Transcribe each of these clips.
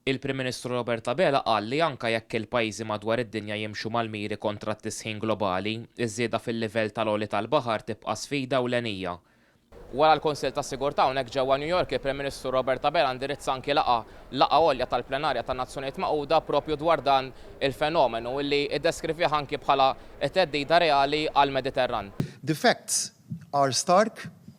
Il-Prim Ministru Robert Abela qal li anke jekk il-pajjiżi madwar id-dinja jimxu mal-miri kontra t-tisħin globali, iż-żieda fil-livell tal-għoli tal-baħar tibqa' sfida ewlenija. Wara l-Kunsill tas-Sigurtà hawnhekk ġewwa New York, il-Prim Ministru Robert Abela indirizza anki laqgħa, laqgħa għolja tal-Plenarja tan-Nazzjonijiet Magħquda proprju dwar dan il-fenomenu, li ddeskrivih anki bħala theddida reali għall-Mediterran. The facts are stark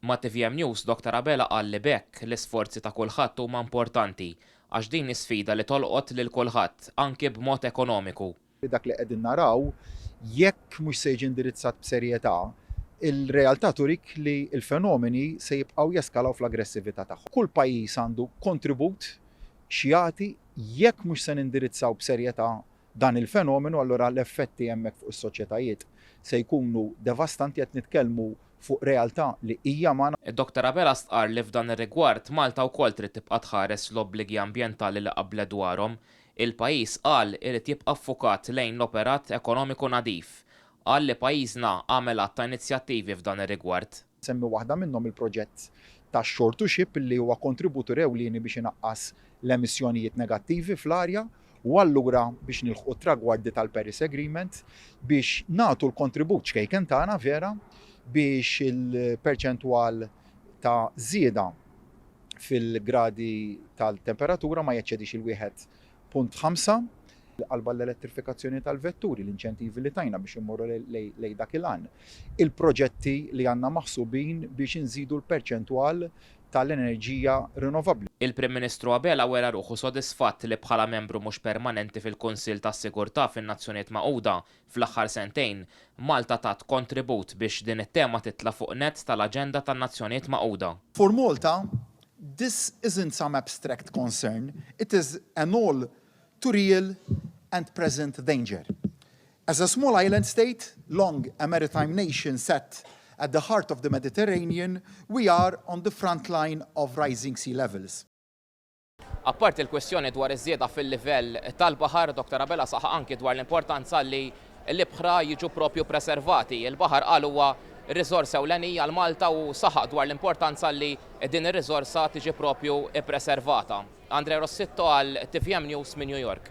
Ma' tvm News, Doctor Abela qal li b'hekk, l-isforzi ta' kulħadd huma importanti, għax din hi sfida li tolqot lil kulħadd, anki b'mod ekonomiku. Bi dak li qegħdin naraw, jekk mhux se jiġi indirizzat b'serjetà, il-realtà turik li l-fenomeni se jibqgħu jeskalaw fl-aggressività tagħhom. Kull pajjiż għandu kontribut x'jagħti jekk mhux se nindirizzaw b'serjetà dan il-fenomenu allura l-effetti hemmhekk fuq is-soċjetajiet se jkunu devastanti, qed nitkellmu fuq realtà li hija magħna. Id-Dottor Abela stqarr li f'dan ir-rigward Malta wkoll trid tibqa' tħares l-obbligi ambjentali li qablet dwarhom. Il-pajjiż, qal, irid jibqa' ffukat lejn l-operat ekonomiku nadif. Qal li pajjiżna għamel għadd ta' inizjattivi f'dan ir-rigward. Nsemmi waħda minnhom il-proġett ta' Shore to Ship li huwa kontributur ewlieni biex inaqqas l-emissjonijiet negattivi fl-arja u allura biex nilħqu t-tragwardi tal-Paris Agreement biex nagħtu l-kontribut ċkejken tagħna vera biex il-perċentwal ta' żieda fil-gradi tal-temperatura ma jeċċedix il-wieħed Punt ħamsa, Qalba l-elettrifikazzjoni tal-vetturi, l-inċentivi li tajna biex immorru lejn dak il-għan. Il-proġetti li għandna maħsubin biex inżidu l-perċentwal tal-enerġija rinnovabbli. Il-Prim Ministru Abela wera ruħu sodisfatt li bħala membru mhux permanenti fil-Kunsill tas-Sigurtà fin-Nazzjonijiet Magħquda, Fl-aħħar sentejn, Malta tat kontribut biex din it-tema titla' fuq nett tal-aġenda tan-Nazzjonijiet Magħquda. For Malta, this isn't some abstract concern, it is an all too real and present danger. As a small island state, long a maritime nation set at the heart of the Mediterranean, we are on the front line of rising sea levels. Apparti l-kwistjoni dwar iż-żieda fil-livell tal-baħar, Dr Abela saħaq anki dwar l-importanza li l-ibħra jiġu propju ppreservati. Il-baħar qal huwa riżorsa ewlenija għal Malta u saħaq dwar l-importanza li din ir-riżorsa tiġi propju ppreservata. Andrea Rossitto għal tvm News minn New York.